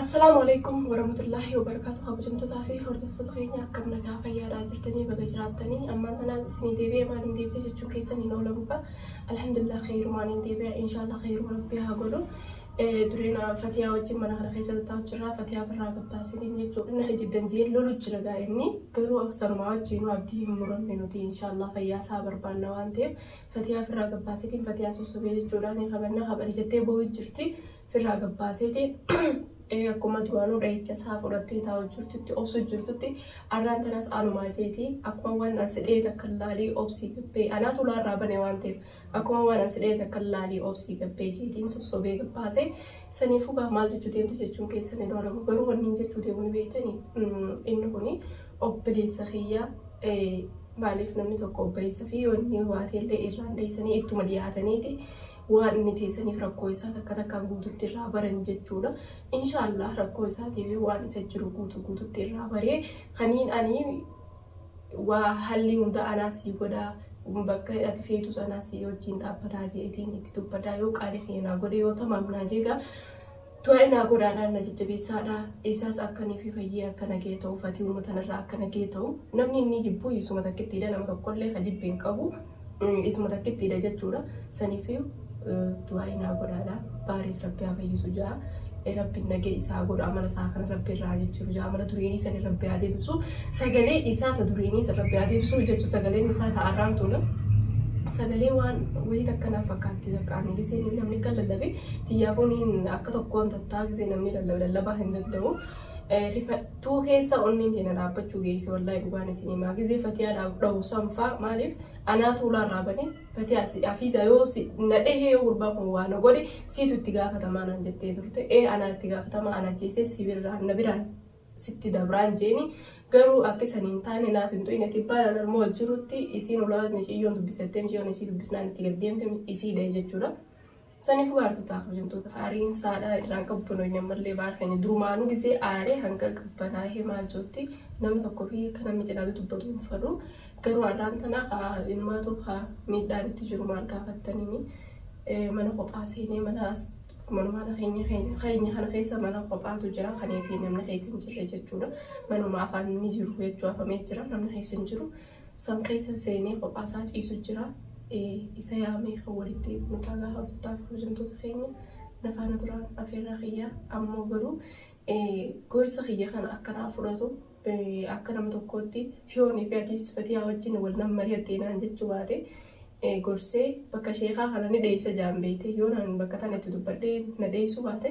Assalaamu Aleykum Warahmatullaahi Wabarakaatuh Kabajamtotaa fi hordoftoota keenya akkam nagaa fayyaadhaa jirtanii baga jiraattanii ammaan tana isinii deebi'e maaliin deebite jechuun keessan hin oolamuudha alhamdulillah kheyrumaan hin deebi'a inshaallah kheyruma rabbii haa godhu Eh, dureen ah, fatiyaa wajjin mana kana keessa tattaa'u jirra fatiyaa birraa gabbaasiniin jechuudha inni kijibdan jee lolu jira gaa inni garuu aksanuma wajjiinu abdii hin muranne nuti inshaallah fayyaa isaa barbaanna waan ta'eef fatiyaa birraa gabbaasiniin fatiyaa sossobee jechuudha ni kabanna kabali jettee boo'u jirti firraa gabbaaseeti akkuma duraanuu dhahicha isaa fudhattee taa'u jirtutti obsu jirtutti arraan tanas anumaa jeeti akkuma waan an sidhee takka laalii obsii gabbee anaa tulaa irraa bane waan ta'eef akkuma waan an sidhee takka laalii obsii gabbee jeetiin sossobee gabbaase saniifuu gaa maal jechuu deemte jechuun keessan hin oolamu garuu wanniin jechuu deemuun beektani inni kuni obboleessa kiyya maaliif namni tokko obboleessa fi wanni waateellee irraan dheessanii ittuma dhiyaataniiti Waan inni ta'e saniif rakkoo isaa takka takkaan guututti irraa baran jechuudha. Inshaa Allaah rakkoo isaatiif waan isa jiru guutuu guututti irraa baree kaniin ani waa hallii hunda anaa sii godhaa bakka ati feetus anaa sii wajjiin dhaabbataa jeetiin itti dubbadaa yoo qaali kiyya naa godhe yoo tamaam naa jeegaa Du'aa'ii naa godhaa dhaa na jajjabeessaa dhaa eessaas akka ni fi fayyee akka nagaya ta'u fatiuma tana irraa akka nagaya ta'u namni innii jibbuu isuma takkitti dha nama tokko illee ka jibbe hin qabu isuma takkitti dha jechuu dha sanifiyu du'aa'ii naa godhaa dhaa baariis rabbi haa fayyisu ja'a rabbi nagaya isaa haa godhu amala isaa kana rabbi irraa haa jijjiru ja'a amala dureenii sanii rabbi haa deebisu sagalee isaa ta dureenii san rabbi haa deebisu jechu sagaleen isaa ta arraan tuna sagalee waan wayii takka naaf fakkaatti takka ani gisee namni kan lallabe Tiyyaa fooniin akka tokkoon tattaa gisee namni lallaba lallabaa hin danda'u. Rifattuu keessa onneen teena dhaabbachuu geesse wallahi dhugaan isin himaa gisee fatiyaa dhabu sanfaa maaliif anaa tuulaa irraa bane fatiyaa si afiizaa yoo si na dhehee yoo gurbaan kun waa na godhe siitu itti gaafatamaa naan jettee turte ee anaa itti gaafatamaa ana jeesee si birraan na biraan sitti dabraan jeeni garuu akka isan hin taane naas hin tu'ine kibbaan an armoo jirutti isiin ulaa miciyyoon dubbisattee miciyyoon isii dubbisnaan itti gaddeemte isiidha jechuudha. Saniif gaartotaa kabajamtoota aariin saadhaa irraan qabbanoyne ammallee baar keenya durumaanuu gisee aaree hanga qabbanaahee maal jootti nama tokko fi akka namni cinaatu dubbatu hin fadhu garuu arraan tanaa kaa ilmaatu kaa miidhaan itti jiru maal gaafattanimi mana kophaa seenee mana manumaana keenya keenya kana keessa mana kophaatu jira kaneefi namni keessa hin jirre jechuudha manuma afaan ni jiru jechuu afamee jira namni keessa hin jiru San keessa seenee kophaa isaa ciisu jira. Isa yaamee kan walitti deebinu ta'a gaafa abdootaa fi kabajamtoota keenya na faana turaan afeerraa kiyya. Ammoo garuu gorsa kiyya kana akka naa fudhatu akka nama tokkootti hiyoonii fi atiis fatiyaa wajjin wal nan mari'attee naan jechuu baate gorsee bakka sheekaa kana ni dheessa jaan beeyte yoo naan bakka tana itti dubbadhee na dheessuu baate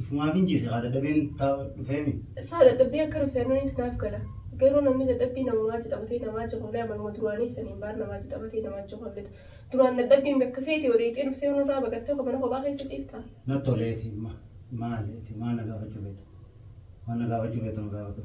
Ifumaa fin ciise kaa dadhabeen ta dhufeemi. Saa dadhabdee akka dhufte annanis naaf gala. Garuu namni dadhabbii namumaa jixabatee namaa jixollee amaluma duraanii saniin baar namaa jixabatee namaa jixolleta. Duraan dadhabbiin bakka feete wareeyxee dhuftee yoo nurraa baqattee ko mana kophaa keessa ciiftaa? Na tole eti ma maali eti maa na gaafachuu feeta? Waan na gaafachuu feetu na gaafadhu.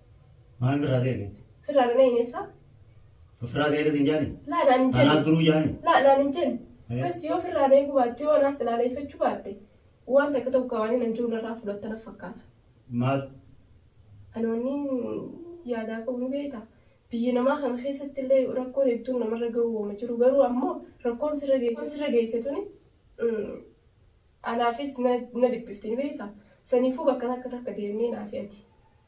Maal firraa si eeggate? Firraa dhana hin eessa? Firraa si eeggate hin jaani? Laa naan hin Anaas jenne. duruu jaani? Laa naan hin jenne. Eh. Bas yoo firraa na eeguu baatte yoo anaas ilaaleeffachuu baatte waan takka tokko waan hin ajjuu narraa fudhatta naf fakkaata. Maal? Ani wanniin yaadaa qabu ni beekta. Biyya namaa kana keessatti illee rakkoon hedduun namarra ga'uu waama jiru. Garuu ammoo rakkoon sirra geesse sirra geesse tuni mm, anaafis na na dhiphifti ni beekta. Saniifuu bakka takka takka deemnee naafi ati.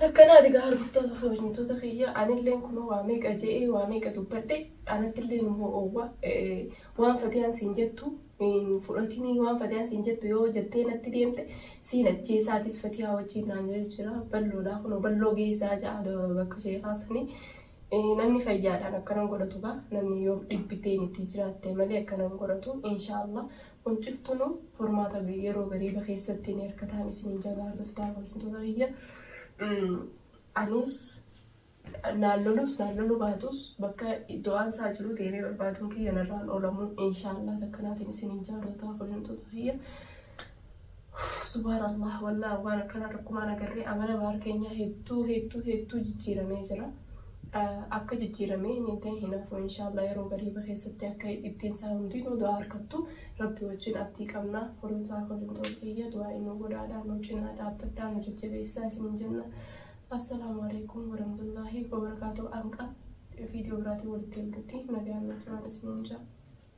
Takkanaa ati gaa hordoftoota kabajamtoota kiyya anilleen kunoo waa meeqa je'ee waa meeqa dubbadhe anattilleen immoo oowwa waan fatiyaan siin jettu hin fudhatinii waan fatiyaan siin jettu yoo jettee natti deemte siin ajjeesaatis fatiyaa wajjiin naan jedhu jira balloodhaa kunoo balloo geessaa ja'a bakka sheekaa sanii namni fayyaadhaan akkanan godhatu gaa namni yoo dhibbiteen itti jiraatte malee akkanan godhatu inshaallah Kun ciftunu formaata yeroo gariiba keessatti ni hirkataan isiniin jabaa hordoftaa kabajamtoota kiyya. Anis naan lolus naan loluu baatus bakka du'aan isaa jiru deemee barbaaduun kiyya narraan oolamu inshaallah takkanaatiin isiniin jaalootaa kabajamtoota kiyya. Uuff subhaan Allah wallaah waan akkanaa takkumaan agarree amala baar keenyaa hedduu hedduu hedduu jijjiiramee jira akka jijjiiramee hin ta'e hin hafu inshaallaa yeroo gariiba keessatti akka ittiin isaa hundinuu du'aa harkattu rabbi wajjin abdii qabna hordofaa kolintoon kiyya du'aa inuu godhaadhaa nu cinaa dhaabbadhaa nu jajjabeessaa isiniin jenna assalaamu alaikum warahmatullaahi wabarakaatu anqa viidiyoo biraatiin walitti ilduutti nagaan na turaan isiniin jaa